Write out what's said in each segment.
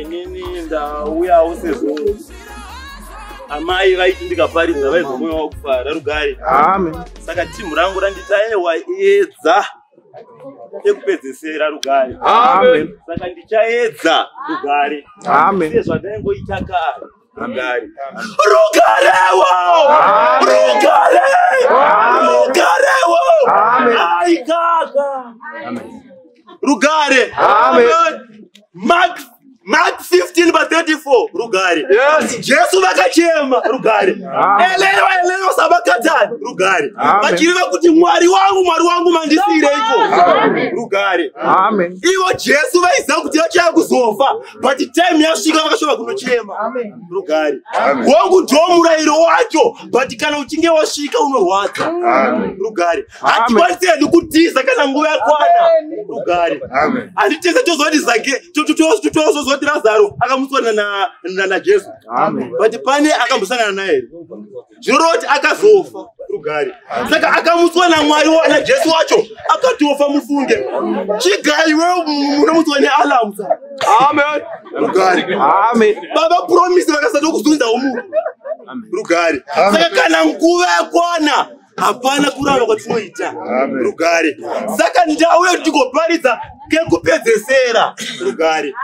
inini ndauyawo sezvo amai vaiti ndikaparidza vaizomoyo wakufara rugare saka timu rangu randita ewa edza ekupedzesera rugare saka ndichaedza rugare sezvandaingoita kare Rugare. Rugarewo! Rugare! Rugarewo! Ai kaka! Rugare! Mark Mark 15 by 34 rugare yes. jesu vakachema rugare elewa elewa sabakatani rugare vachireva kuti mwari wangu mwari wangu mandisiireiko rugare ivo jesu vaiziva kuti vachaya kuzofa but time yasvika vakashova kunochema rugare wangu ndo murayiro wacho but kana uchinge wasvika unorwadza rugare hatikwanisi hedu kutiza kana nguva yakwana rugare handitese tozoti zake tozozoti razaro akamuswana najesu but pane akambosangana naye zvoroti akazofa rugare saka akamutswa namwari najesu wacho akatofa mufunge chigai we unomutswa nealamu sa amen rugare amen baba promise vakasatokuzunzawo munhu rugare saka kana nguva yakwana hapana kuramba kwatinoita rugare saka ndau yedu tikoparidza kekupedzesera rugare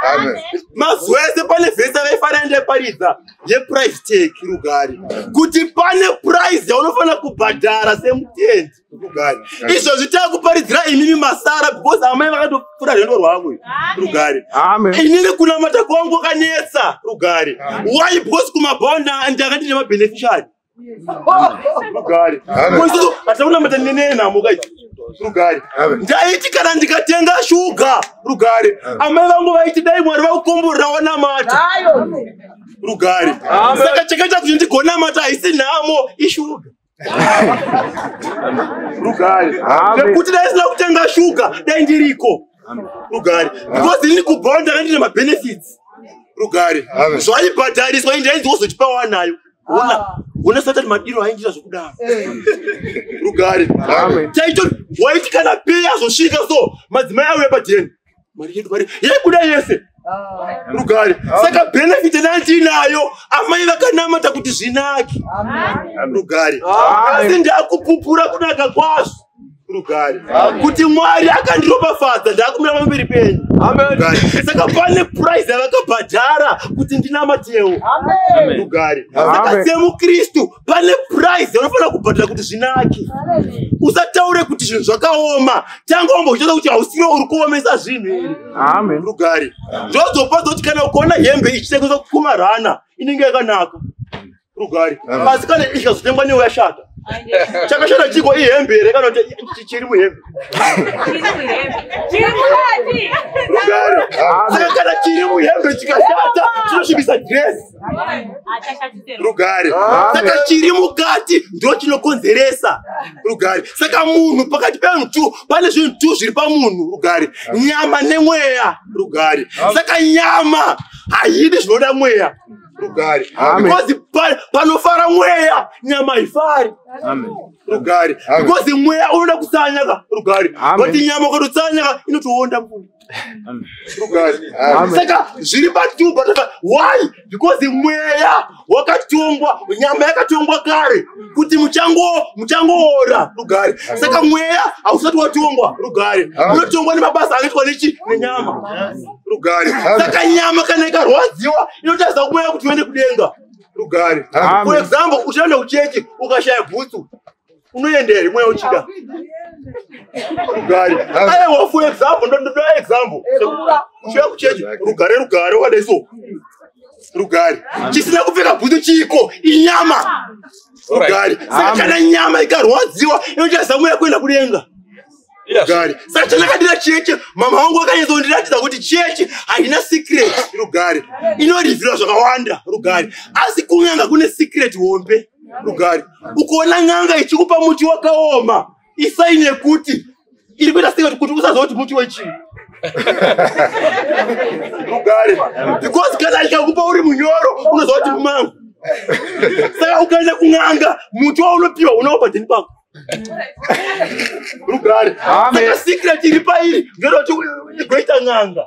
mazuva ese pane vhesa vaifanira ndaiparidza yeprice tag rugari kuti pane price yaunofanira kubhadhara semutendi rugari izvozvi takuparidzira imimi masara because amai vakatopfura rwendo rwavo rugari inini kunamata kwangu kwakanetsa rugari why because kumabhawa ndanga ndine mabeneficiary rugare hataona mata nene nhamo kai rugare ndaiti kana ndikatenga shuga rugare amai vangu vaiti dai mwari vakukomborera wanamata rugare saka chakaita kuti ndigonamata haisi nhamo ishuga rugare nekuti dai sina kutenga shuga dai ndiriko rugare because ini kubhawa ndakandine mabenefits rugare zvaibhadhariswa indainzi wozotipawa nayo ona ah. ona satani madiro ainjira zvokudaro eh. rugare chaito waiti kana pei azosvika so madzimai auya padheni mari yedu mari yaikuda yese ah. rugare ah. saka benefiti nandinayo amai vakanamata kuti zvinaki rugare asi ndakupupura kunaka kwazvo rugare kuti mwari akandiropafadza ndakumira pamberi penyu saka pane purize yavakabhadhara kuti ndinamatewo rugare saka semukristu pane purize yaunofanira kubhadhara kuti zvinake usataure kuti zvinhu zvakaoma tanga wambochitaura kuti hausiro uri kuomesa zvinhu here rugare zvozopadza kuti kana ukaona hembe ichitengeswa kumarana inenge yakanaka rugare asi kana ikazotengwa newe yashata chakashata chiko ihembe here kana kuti chiri muhembe saka kana chiri muhembe chikashata chinosvibisa dresi rugare saka chiri mukati ndo chinokonzeresa rugare saka munhu pakati pevanhu two pane zvinhu two zviri pamunhu rugare nyama nemweya rugare saka nyama haidi zvinoda mweya rugare because panofara mweya nyama haifari rugare because mweya unoda kusanyaka rugare but nyama ukatotsanyaka inotoonda mvura saka zviri patuba why because mweya wakatongwa nyama yakatongwa kare kuti muchango muchangoora rugare saka mweya hausati watongwa rugare unotongwa nemabasa akaitwa nechi nenyama rugare saka nyama kana ikarwadziwa inotaridza kumweya kuti uende kudenga rugare for example uchaenda kuchechi ukashaya bhutsu unoendere mweya uchida rugare aiwa for example ndondoda example uchaya kuchechi rugare rugare wakadai so rugare chisina kupfeka bhutsu chiiko inyama rugare saka kana nyama ikarwadziwa inotaridza mweya kuenda kudenga Rugare. Saka chandakadira cheche mama wangu akanyatsa kundiratidza kuti cheche haina secret. Rugare. Inorivhira zvakawanda rugare. Asi kun'anga kune secret hombe rugare. Ukaona n'anga ichikupa muti wakaoma isaini yekuti iri kuita secret kuti usaziva kuti muti wechii. Rugare. Because kana ikakupa uri munyoro unoziva kuti mumangu. Saka ukaenda kun'anga muti waunopiwa unawo padheni pako. rugare saka secret iri pairi ngeroti goita n'anga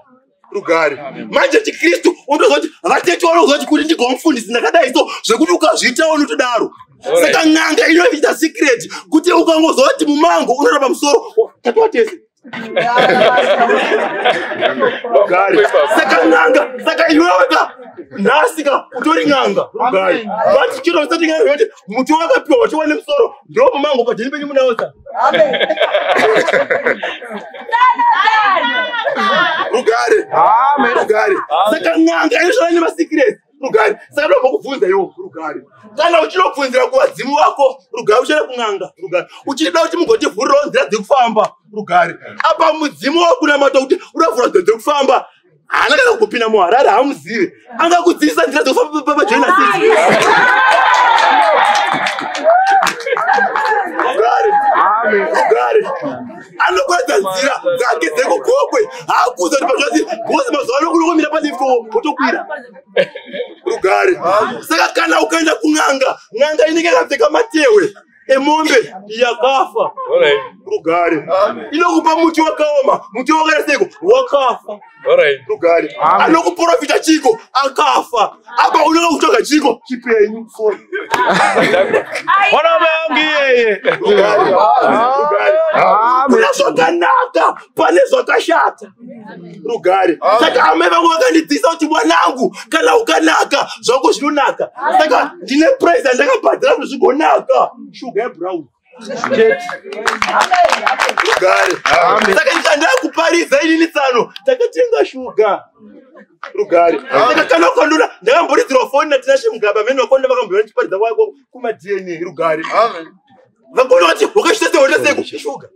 rugare manje chikristu unotozoti vatete vanozoti kuti ndigomufundisi ndakadai so zvekuti ukazviita unotodaro saka n'anga inoita secret kuti ukangozoti mumango unorapa musoro tatova tese rugare saka n'anga saka iweweka nhasika utori n'anga rugare vati chiro usati n'anga yoti muti wakapiwa wachiwa nemusoro ndiopo mango pajeni penyu munaosa rugare rugare saka n'anga inozvana nemasikiresi rugare saka ndoba kubvunza iwo rugare kana uchinobvunzira kuvadzimu vako rugare uchaenda kun'anga rugare uchida kuti mugotivhurirawo nzira dzekufamba rugare apa mudzimu wakunamata kuti uravhura nzira dzekufamba haana kana kupinda muharare haamuzive angakudziisa nzira dzekufamba pajoina sisi rugare rugare anokwadza nzira dzake dzekugokwe haakuza kuti pazvati bhozi mazuva ano kunokomira palifto wotokwira rugare saka kana ukaenda kun'anga n'anga inenge yakapfeka matewe emombe yakafa rugare inokupa muti wakaoma muti wakaita seiko wakafa rugare anokuprofita chiko akafa apa unoda kutsvaga chiko chipenyu mwana wangu iyeye kuna zvakanaka pane zvakashata rugare saka amai vangu vakandidzisa kuti mwanangu kana ukanaka zvako zvinonaka saka ndine price andakabhadhira kuti zvigonaka shuga yebrown saka ndikandava kuparidza inini tsano takatenga shuga rugare saka kana ukandona ndakamboridzirwa foni natinashe mugaba mene vakonda vakambona tiparidza kwako kumadna rugare vakona vati wakashita sehotaseko shuga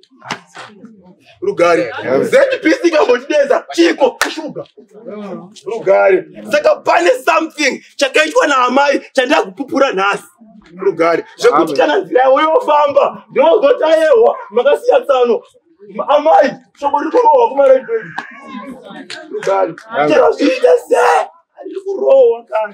rugare zbc kambotideza chiko kushuga rugare saka pane something chakaitwa naamai chandida kupupura nhasi rugare zvekuti kana nzira yavo yofamba ndinozotaehwa makasiya tsano amai shoko riri kurohwa kumaredredi rugare chero zviite se riri kurohwa kana